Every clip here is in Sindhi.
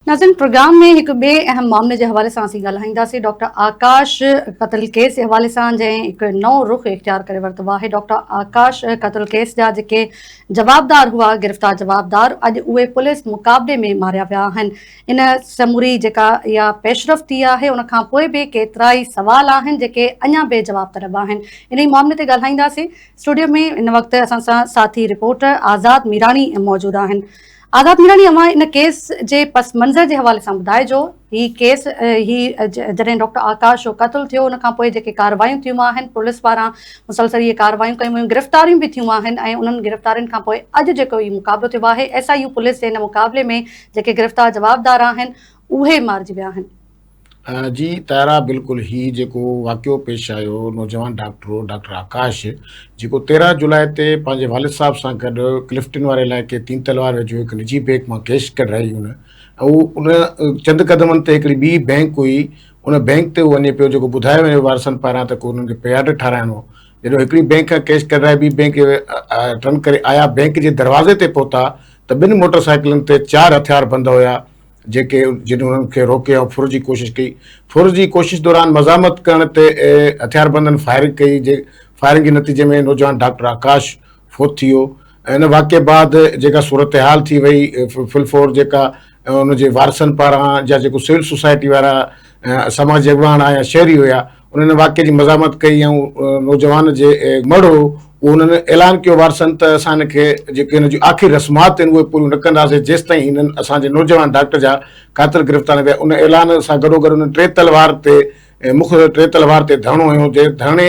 ناظرين پروگرام ۾ هڪ ٻئي اهم معاملي جي حوالي سان اسين ڳالهائينداسين ڊاڪٽر آڪاش قتل ڪيس جي حوالي سان جنهن هڪ نئون رخ اختيار ڪري ورتو آهي ڊاڪٽر آڪاش قتل ڪيس جا جيڪي جوابدار هئا گرفتار جوابدار اڄ اهي پوليس مقابلي ۾ ماريا ويا آهن ان سموري جيڪا اها پيشرفت ٿي آهي ان کان پوء به ڪيترائي سوال آهن جيڪي اڃا بي جواب طلب آهن انهي معاملي تي ڳالهائينداسين اسٽوڊيو ۾ ان وقت اسان سان ساٿي رپورٽر آزاد ميراڻي موجود آهن آزاد ميراڻي اوهان ان ڪيس جي پس منظر جي حوالي سان ٻڌائجو هي ڪيس هي جڏهن ڊاڪٽر آڪاش جو قتل ٿيو ان کان پوء جيڪي ڪاروايون ٿيون آهن پوليس پاران مسلسل اهي ڪاروايون ڪيون ويون گرفتاريون به ٿيون آهن ۽ انهن گرفتارين کان پوء اڄ جيڪو هي مقابلو ٿيو آهي ايس آء يو پوليس جي ان مقابلي ۾ جيڪي گرفتار جوابدار آهن اهي مارجي ويا آهن. جي طاهرا بلڪل هي جيڪو واقعو پيش آيو نوجوان ڊاڪٽرو ڊاڪٽر آڪاش جيڪو تيرهن جولاء تي پنهنجي والد صاحب سان گڏ ڪلفٽن واري علائقي تين تلوار ويجهو هڪ نجي بينڪ مان ڪيش ڪڍرائي هن ان چند قدمن تي هڪڙي ٻي بينڪ هئي ان بينڪ تي وڃي پيو جيڪو ٻڌايو وڃي وارثن پاران ته انهن کي پياڊ ٺارايڻو جڏهن هڪڙي بينڪ کان ڪيش ڪڍرائي ٻي بينڪ رن ڪري آيا بينڪ جي دروازي تي پهتا ته ٻن موٽر سائيڪلن تي چار هٿياربند هيا، جيڪي جن انهن کي روڪي ۽ ڦر جي ڪوشش ڪئي. ڦر جي ڪوشش دوران مزاحمت ڪرڻ تي هٿياربندن فائرنگ ڪئي، جي فائرنگ جي نتيجي ۾ نوجوان ڊاڪٽر آڪاش فوت ٿي ويو. ان واقعي بعد جيڪا صورتحال ٿي وئي، ڦلفور جيڪا ان جي وارثن پاران جا جيڪو سول سوسائٽي وارا سماجي اڳواڻ ها يا شهري هيا انهن ان واقعي جي مزاحمت ڪئي ۽ نوجوان جي مڙهه هو اهو انهن اعلان ڪيو وارثن ته اسان هن کي جيڪي هن جون آخري رسمات آهن اهي پوريون نه ڪنداسين جيستائين هنن اسان جي نوجوان ڊاڪٽر جا قاتل گرفتار نه ڪيا ان اعلان سان گڏوگڏ انهن ٽي تلوار تي مک ٽي تلوار تي ڌرڻو هنيو جي ڌرڻي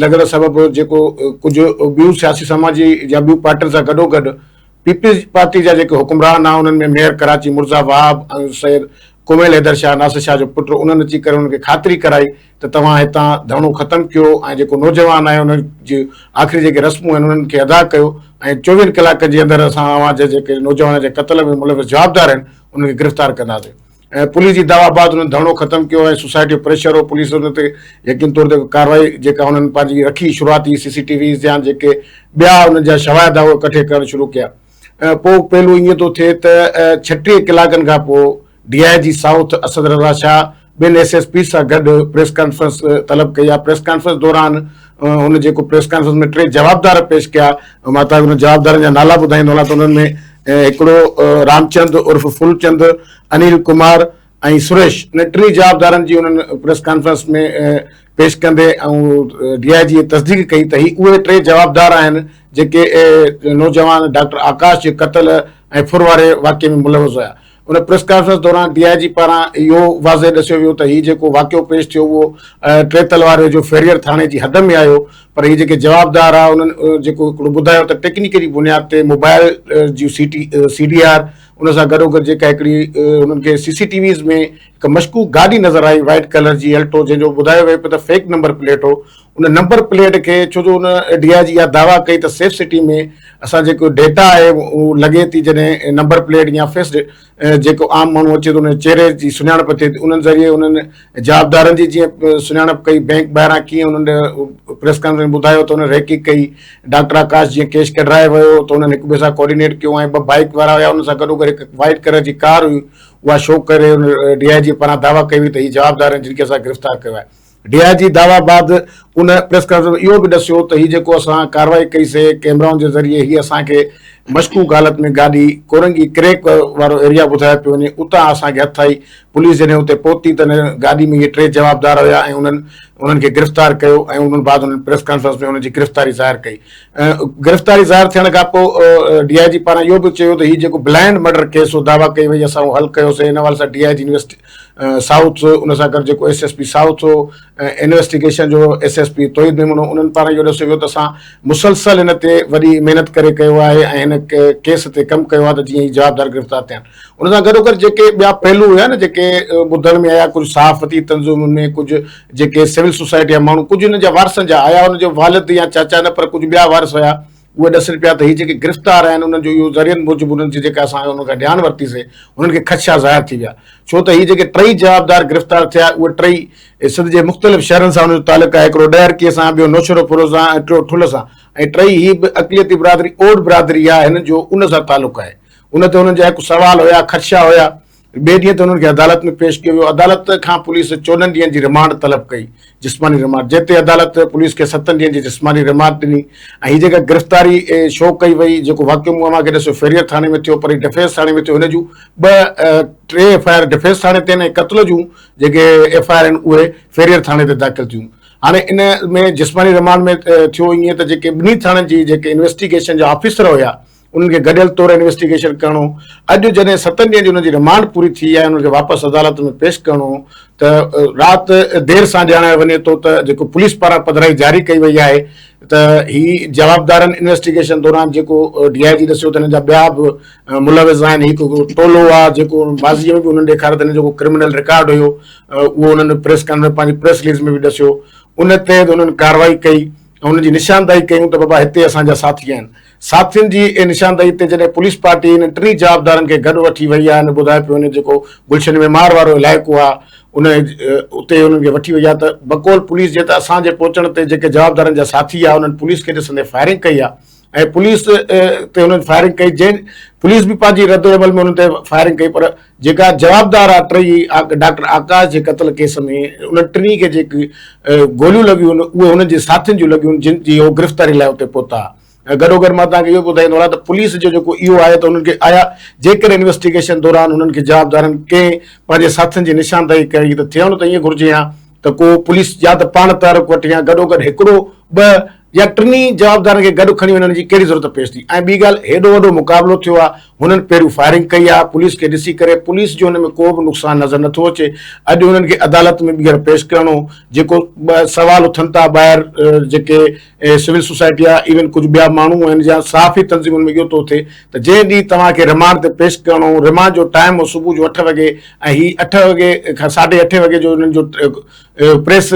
لڳڻ سبب جيڪو ڪجهه ٻيون سياسي سماجي يا ٻيون پارٽين سان گڏوگڏ پيپلز پارٽي جا جيڪي حڪمران ها انهن ۾ ميئر ڪراچي مرزا وهاب ۽ سيد ڪوميل حيدر شاهه ناصر شاهه جو پٽ انهن اچي ڪري انهن کي خاطري ڪرائي ته توهان هتان ڌرڻو ختم ڪيو ۽ جيڪو نوجوان آهي انهن جي آخري جيڪي رسمون آهن انهن کي ادا ڪيو ۽ چوويهن ڪلاڪن جي اندر اسان اوهان جي جيڪي نوجوانن جي قتل ۾ ملوث جوابدار آهن انهن کي گرفتار ڪنداسين. پوليس جي دعويٰ بعد انهن ڌرڻو ختم ڪيو ۽ سوسائٽي جو پريشر هو پوليس ان تي يقيني طور تي ڪارروائي جيڪا انهن پنهنجي رکي شروعاتي سي سي ٽي ويز جيان جيڪي ٻيا انهن جا شواهد هئا اهي ڪٺي ڪرڻ شروع ڪيا پوء پهلو ايئن ٿو ٿئي ته ڇٽيهه ڪلاڪن کان پوء D I G south Asad Raza Shah ٻين ايس ايس پيز سان گڏ پريس ڪانفرنس طلب ڪئي آهي پريس ڪانفرنس دوران هن جيڪو پريس ڪانفرنس ۾ ٽي جوابدار پيش ڪيا مان تهاکي انهن جوابدارن جا نالا ٻڌائيندو هلان ته انهن ۾ هڪڙو رامچند عرف ڦولچند، انيل ڪمار ۽ سريش انهن ٽنهي جوابدارن جي انهن پريس ڪانفرنس ۾ پيش ڪندي ڊي آء جي تصديق ڪئي ته هي اهي ٽي جوابدار آهن جيڪي نوجوان ڊاڪٽر آڪاش جي قتل ۽ ڦر واري واقعي ۾ ملوث هيا ان پريس ڪانفرنس دوران ڊي آء جي پاران اهو واضح ڏسيو ويو ته هي جيڪو واقعو پيش ٿيو اهو ٽيتل واري جو فيريئر ٿاڻي جي حد ۾ آيو پر هي جيڪي جوابدار هئا انهن جيڪو هڪڙو ٻڌايو ته ٽيڪنيڪلي بنياد تي موبائل جون C T C D R ان سان گڏوگڏ جيڪا هڪڙي انهن کي سي سي ٽي ويز ۾ هڪ مشڪوڪ گاڏي نظر آئي وائيٽ ڪلر جي الٽو جنهن جو ٻڌايو ويو پيو ته فيڪ نمبر پليٽ هو ان نمبر پليٽ کي ڇو جو ان ڊي آء جي اها دعويٰ ڪئي ته سيف سٽي ۾ اسان جيڪو ڊيٽا آهي اهو لڳي ٿي جڏهن نمبر پليٽ يا فيس جيڪو عام ماڻهو اچي ٿو ان جي چهري جي سڃاڻپ ٿئي ٿي انهن ذريعي انهن جوابدارن جي جيئن سڃاڻپ ڪئي بئنڪ ٻاهران ڪيئن انهن پريس ڪانفرنس ٻڌايو ته انهن ريڪي ڪئي ڊاڪٽر آڪاش جيئن ڪيش ڪڍرائي ويو ته انهن هڪ ٻئي سان ڪوآرڊينيٽ ڪيو ۽ ٻه بائيڪ وارا هيا انهن سان گڏوگڏ هڪ وائٽ ڪلر جي ڪار هئي اها شو ڪري ان ڊي آء جي پاران دعويٰ ڪئي وئي ته هي جوابدار آهن جن کي اسان گرفتار ڪيو آهي ڊي آء جي دعويٰ بعد ان پريس ڪانفرنس ۾ اهو به ڏسيو ته هي جيڪو اسان ڪارروائي ڪئي سي ڪيمرائن جي ذريعي هي اسان کي مشڪوڪ حالت ۾ گاڏي ڪورنگي ڪريڪ وارو ايريا ٻڌايو پيو وڃي اتان اسان کي هٿ آئي پوليس جڏهن اتي پهتي ته ان گاڏي ۾ اهي ٽي جوابدار هيا ۽ انهن انهن کي گرفتار ڪيو ۽ ان بعد انهن پريس ڪانفرنس ۾ انهن جي گرفتاري ظاهر ڪئي گرفتاري ظاهر ٿيڻ کان پوء ڊي آء جي پاران اهو به چيو ته هي جيڪو بلائنڊ مرڊر ڪيس هو دعويٰ ڪئي وئي اسان اهو حل ڪيوسي ان حوالي سان D I G invest south هو، ان سان گڏ جيڪو ايس ايس پي سائوٿ هو ۽ انويسٽيگيشن جو S S P Tauheed Memon هو، انهن پاران اهو ڏسيو ويو ته اسان مسلسل هن تي وڏي محنت ڪري ڪيو آهي ۽ هن ڪيس تي ڪم ڪيو آهي ته جيئن هي جوابدار گرفتار ٿين. ان سان گڏوگڏ جيڪي ٻيا پهلو هيا نه جيڪي ٻڌڻ ۾ آيا ڪجهه صحافتي تنظيمن ۾ ڪجهه جيڪي سول سوسائٽي جا ماڻهو ڪجهه هن جا وارثن جا آيا هن جو والد يا چاچا نه پر ڪجهه ٻيا وارث هيا، اهي ڏسن پيا ته هي جيڪي گرفتار آهن انهن جو اهو ذريعن موجب انهن جي جيڪا اسان انهن کان ڄاڻ ورتي سي انهن کي خدشا ظاهر ٿي ويا ڇو ته هي جيڪي ٽئي جوابدار گرفتار ٿيا اهي ٽئي سنڌ جي مختلف شهرن سان انهن جو تعلق آهي هڪڙو ڏهرڪي سان ٻيو نوشهرو فروز سان ۽ ٽيو ٺل سان ۽ ٽئي هي به اقليتي برادري اوڏ برادري آهي هنن جو ان سان تعلق آهي ان تي انهن جا هڪ سوال هيا خدشا هيا ٻئي ڏينهن تي انهن کي عدالت ۾ پيش ڪيو ويو، عدالت کان پوليس چوڏهن ڏينهن جي رمانڊ طلب ڪئي، جسماني رمانڊ، جنهن تي عدالت پوليس کي ستن ڏينهن جي جسماني رمانڊ ڏني ۽ هي جيڪا گرفتاري شو ڪئي وئي، جيڪو واقعو مون اوهان کي ڏسيو فيريئر ٿاڻي ۾ ٿيو پر هي ڊفينس ٿاڻي ۾ ٿيو، هن جون ٻه ٽي ايف آء آر ڊفينس ٿاڻي تي آهن ۽ قتل جون جيڪي ايف آء آر آهن اهي فيريئر ٿاڻي تي داخل ٿيون، هاڻي ان ۾ جسماني رمانڊ ۾ ٿيو ائين ته جيڪي ٻنهي ٿاڻن جي جيڪي انويسٽيگيشن جا آفيسر هيا، انهن کي گڏيل طور انويسٽيگيشن ڪرڻو، اڄ جڏهن ستن ڏينهن جي انهن جي رمانڊ پوري ٿي آهي انهن کي واپس عدالت ۾ پيش ڪرڻو ته رات دير سان ڄاڻايو وڃي ٿو ته جيڪو پوليس پاران پڌرائي جاري ڪئي وئي آهي ته هي جوابدارن انويسٽيگيشن دوران جيڪو ڊي آء جي ڏسيو ته هنن جا ٻيا به ملوث آهن هڪ ٽولو آهي جيڪو ماضي ۾ به انهن ڏيکاريو ته هنن جو ڪرمنل رڪارڊ هيو اهو انهن پريس ڪانفرنس پنهنجي پريس رليز ۾ به ڏسيو ان تحت انهن ڪارروائي ڪئي ۽ انهن جي نشاندهي ڪيون ته بابا هتي اسان جا ساٿي آهن ساٿين جي اي نشاندهي تي جڏهن پوليس پارٽي انهن ٽنهي جوابدارن کي گڏ وٺي وئي آهي ۽ ٻڌائي پيو وڃي جيڪو گلشن معمار وارو علائقو آهي ان اتي انهن کي وٺي وئي آهي ته بقول پوليس جي ته اسان جي پهچڻ تي جيڪي جوابدارن جا ساٿي آهي انهن پوليس کي ڏسندي فائرنگ ڪئي آهي ۽ پوليس تي انهن فائرنگ ڪئي جنهن پوليس به پنهنجي ردعمل ۾ انهن تي فائرنگ ڪئي پر جيڪا جوابدار آ ٽئي ڊاڪٽر آڪاش جي قتل ڪيس ۾ انهن ٽنهي کي جيڪي گوليون لڳيون اهي هنن جي ساٿين جون لڳيون جن جي هو گرفتاري لاء اتي پهتا گڏوگڏ مان توهان کي اهو به ٻڌائيندو هلان ته پوليس جو جيڪو اهو آهي ته انهن کي آيا جيڪڏهن انويسٽيگيشن دوران انهن کي جوابدارن ڪنهن پنهنجي ساٿين جي نشاندهي ڪئي ته ٿيڻ ته ائين گهرجي ها ته ڪو پوليس يا ته پاڻ تحرڪ وٺي ها گڏوگڏ هڪڙو ٻه يا ٽنهي جوابدارن کي گڏ کڻي وڃڻ جي ڪهڙي ضرورت پيش ٿي ۽ ٻي ڳالهه هيڏو وڏو مقابلو ٿيو آهي هنن پهريون فائرنگ ڪئي آهي پوليس کي ڏسي ڪري پوليس جو هن ۾ ڪو به نقصان نظر نٿو اچي اڄ هنن کي عدالت ۾ ٻيهر پيش ڪرڻو جيڪو سوال اٿن ٿا ٻاهر جيڪي سول سوسائٽي آهي ايون ڪجهه ٻيا ماڻهو آهن يا صحافي تنظيمن ۾ اهو ٿو ٿئي ته جنهن ڏينهن توهان کي رمانڊ تي پيش ڪرڻو رمانڊ جو ٽائيم هو صبح جو اٺ وڳي ۽ هي اٺ وڳي کان ساڍي اٺ وڳي جو هنن جو پريس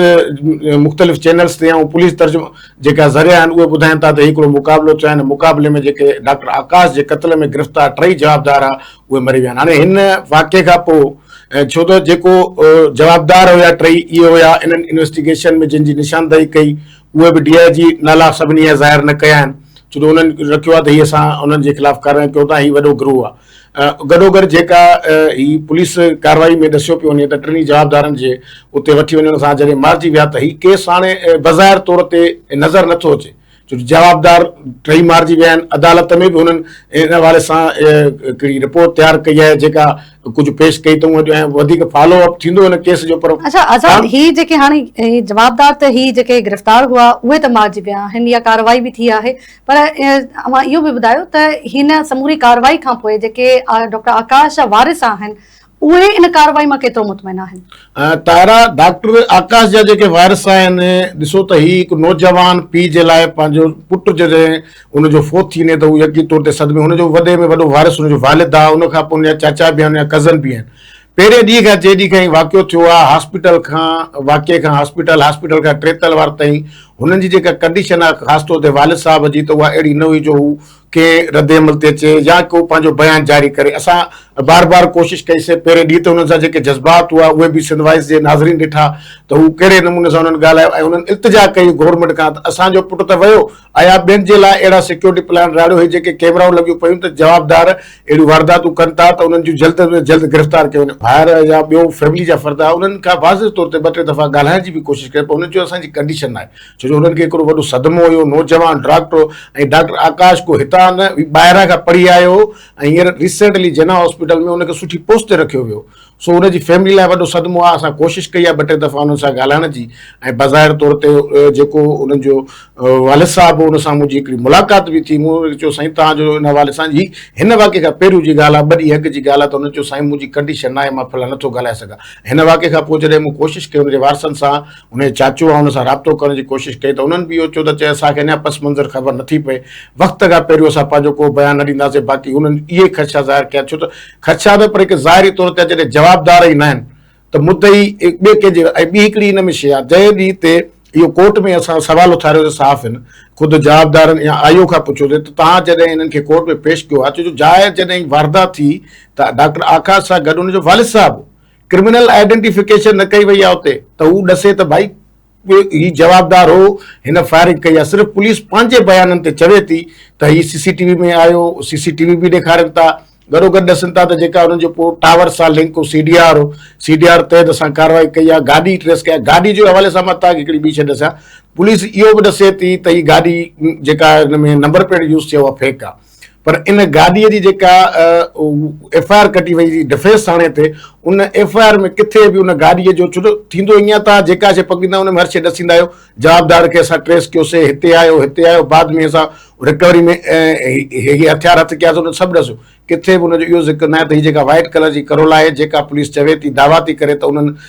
مختلف چينلز تي ۽ پوليس ترجمان جيڪا ذريعا آهن اهي ٻڌائين ٿا ته هي هڪڙو مقابلو ٿيو آهي ان مقابلي ۾ جيڪي ڊاڪٽر آڪاش جي قتل ۾ گرفتار ٽئي جوابدار ها اهي مري ويا آهن هاڻي هن واقعي کان پوء ڇو ته جيڪو جوابدار هيا ٽئي اهي هيا انهن انويسٽيگيشن ۾ جن جي نشاندهي ڪئي اهي به ڊي آء جي نالا سڀني جا ظاهر نه ڪيا آهن ڇو ته انهن رکيو آهي ته هي اسان انهن جي خلاف ڪارروائي ڪيون ٿا هي وڏو گروهه آهي. گڏوگڏ جيڪا هي پوليس ڪارروائي ۾ ڏسيو پيو وڃي ته ٽنهي جوابدارن جي اتي وٺي وڃڻ سان جڏهن مارجي ويا ته هي ڪيس هاڻي بظاهر طور تي نظر نه ٿو اچي ڇو جو جوابدار ٽئي مارجي ويا آهن عدالت ۾ به هنن ان حوالي سان هڪڙي رپورٽ تيار ڪئي آهي جيڪا ڪجهه پيش ڪئي اٿئون اڄ ۽ وڌيڪ فالو اپ ٿيندو هن ڪيس جو پر اڇا آزاد هي جيڪي هاڻي جوابدار ته هي جيڪي گرفتار هئا اهي ته مارجي ويا آهن يا ڪارروائي به ٿي آهي پر اوهان اهو به ٻڌايو ته هن سموري ڪارروائي کانپوء جيڪي ڊاڪٽر آڪاش جا وارث آهن اهي ان ڪارروائي مان ڪيترو مطمئن آهن؟ طاهرا، ڊاڪٽر آڪاش جا جيڪي وارث آهن ڏسو ته هي هڪ نوجوان پيء جي لاء پنهنجو پٽ جڏهن ان جو فوت ٿي وڃي ته هو يقيني طور تي صدمي هن جو وڏي ۾ وڏو وارث ان جو والد آهي ان کانپوء ان جا چاچا به آهن ان جا ڪزن به آهن پهرين ڏينهن کان جيڏينهن کان هي واقعو ٿيو آهي هاسپيٽل کان واقعي کان هاسپيٽل هاسپيٽل کان ٽي تلوار تائين هنن جي جيڪا ڪنڊيشن آهي خاص طور تي والد صاحب جي ته اها اهڙي نه هئي جو هو ڪنهن رد عمل تي اچي يا ڪو پنهنجو بيان جاري ڪري اسان بار بار ڪوشش ڪئي سي پهرين ڏينهن تي هنن سان جيڪي جذبات هئا اهي به سنڌ وائس جي ناظرين ڏٺا ته هو ڪهڙي نموني سان هنن ڳالهايو ۽ هنن التجا ڪئي گورنمينٽ کان ته اسان جو پٽ ته ويو ايا ٻين جي لاء اهڙا سيڪيورٽي پلان راڙيو هي جيڪي ڪيمرائون لڳيون پيون ته جوابدار اهڙيون وارداتون ڪن ٿا ته انهن جون جلد ۾ جلد گرفتار ڪيون وڃن. ڀائر يا ٻيو فيملي جا فرد انهن کان واضح طور تي ٻه ٽي دفعا ڳالهائڻ جي به ڪوشش ڪئي پر انهن چيو اسان جي ڪنڊيشن ناهي ڇو جو انهن کي هڪڙو وڏو صدمو هيو نوجوان ڊاڪٽر هو ۽ ڊاڪٽر آڪاش ڪو هتان نه هي ٻاهران کان پڙهي آيو هو ۽ هينئر ريسينٽلي جناح هاسپيٽل ۾ ان کي سٺي پوسٽ تي رکيو ويو سو ان جي فيملي لاء وڏو صدمو آهي، اسان ڪوشش ڪئي آهي ٻه ٽي دفعا انهن سان ڳالهائڻ جي ۽ بظاهر طور تي جيڪو انهن جو والد صاحب هو ان سان منهنجي هڪڙي ملاقات به ٿي، مون انهن کي چيو سائين توهان جو ان حوالي سان هي هن واقعي کان پهريون جي ڳالهه آهي ٻه ڏينهن اڳ جي ڳالهه آهي ته انهن چيو سائين منهنجي ڪنڊيشن ناهي مان فلان نٿو ڳالهائي سگهان هن واقعي کان پوء جڏهن مون ڪوشش ڪئي ان جي وارثن سان ان جي چاچو آهي ان سان رابطو ڪرڻ جي ڪوشش ڪئي ته انهن به اهو چيو ته چي اسان کي اڃا پس منظر خبر نٿي پئي وقت کان پهريون اسان پنهنجو ڪو بيان نه ڏينداسين باقي انهن اهي خدشا ظاهر ڪيا ڇو ته خدشا نه پر هڪ ظاهري طور تي آهي جڏهن جوابدار ئي ناهن ته مدعي ٻئي ڪنهن جي ۽ ٻي هڪڙي ان ۾ شيء آهي جنهن ڏينهن تي اهو ڪورٽ ۾ اسان سوال اٿاريو ته صحافين خود جوابدارن يا آئيو کان پڇيو ته توهان جڏهن انهن کي ڪورٽ ۾ پيش ڪيو ها ڇو جو ظاهر جڏهن هي واردات ٿي ته ڊاڪٽر آڪاش سان گڏ ان جو والد صاحب هو ڪرمنل آئيڊنٽيفڪيشن نه ڪئي وئي آهي اتي ته هو ڏسي ته ڀائي به هي جوابدار هو، هن فائرنگ ڪئي آهي، صرف پوليس پنهنجي بيانن تي چوي ٿي ته هي سي سي ٽي وي ۾ آيو، سي سي ٽي وي به ڏيکارين ٿا، گڏوگڏ ڏسن ٿا ته جيڪا انهن جو ڪو ٽاور سان لنڪ هو سي ڊي آر هو، سي ڊي آر تحت اسان ڪارروائي ڪئي آهي، گاڏي ٽريس ڪئي آهي، گاڏي جي حوالي سان مان تهانکي هڪڙي ٻي شيء ڏسيان، پوليس اهو به ڏسي ٿي ته هي گاڏي جيڪا هن ۾ نمبر پليٽ يوز ٿي آهي اها فيڪ آهي. پر ان گاڏيء جي جيڪا ايف آء آر ڪٽي وئي ڊفينس ٿاڻي تي ان ايف آء آر ۾ ڪٿي به ان گاڏيء جو ڇو ٿيندو ائين آهي ته جيڪا شيء پڪڙيندا ان ۾ هر شيء ڏسيندا آهيو جوابدار کي اسان ٽريس ڪيوسي هتي آيو هتي آيو بعد ۾ اسان رڪوري ۾ هي هٿيار هٿ ڪياسي ان سڀ ڏسيو ڪٿي به ان جو اهو ذڪر نه آهي ته هي جيڪا وائٽ ڪلر جي ڪرولا آهي جيڪا پوليس چوي ٿي دعويٰ ٿي ڪري ته انهن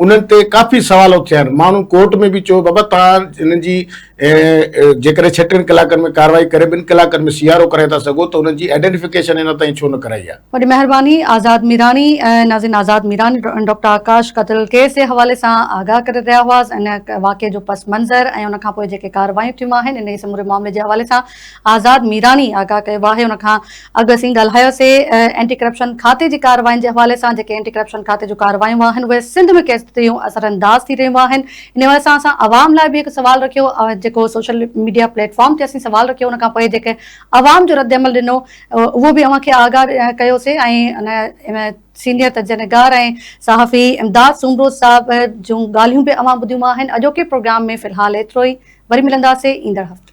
انهن تي ڪافي سوال اٿيا آهن، ماڻهن ڪورٽ ۾ به چيو بابا توهان هنن جي جيڪڏهن ڇهٽن ڪلاڪن ۾ ڪارروائي ڪري ٻن ڪلاڪن ۾ سي آر او ڪرائي ٿا سگهو ته هنن جي آئيڊينٽيفڪيشن اڃا تائين ڇو نه ڪرائي آهي. وڏي مهرباني آزاد ميراڻي ۽ نازين آزاد ميراڻي ڊاڪٽر آڪاش قتل ڪيس جي حوالي سان آگاهه ڪري رهيا هئا ان واقعي جو پس منظر ۽ ان کانپوء جيڪي ڪارروايون ٿيون آهن انهي سموري معاملي جي حوالي سان آزاد ميراڻي آگاهه ڪيو آهي ان کان اڳ اسين ڳالهايوسي اينٽي ڪرپشن کاتي جي ڪاررواين جي حوالي سان جيڪي اينٽي ڪرپشن ڪاتي جون ڪارروايون آهن اهي سنڌ ۾ ڪيتريون اثرانداز ٿي رهيون آهن ان حوالي سان اسان عوام لاء به هڪ سوال رکيو جيڪو سوشل ميڊيا پليٽ فارم تي اسين سوال رکيو ان کان پوء جيڪي عوام جو رد عمل ڏنو اهو به اوهان کي آگاهه ڪيوسي ۽ ان سينيئر تجزيه نگار ۽ صحافي امداد سومرو صاحب جون ڳالهيون به اوهان ٻڌيون آهن اڄوڪي پروگرام ۾ في الحال ايترو ئي وري ملنداسي ايندڙ هفتي.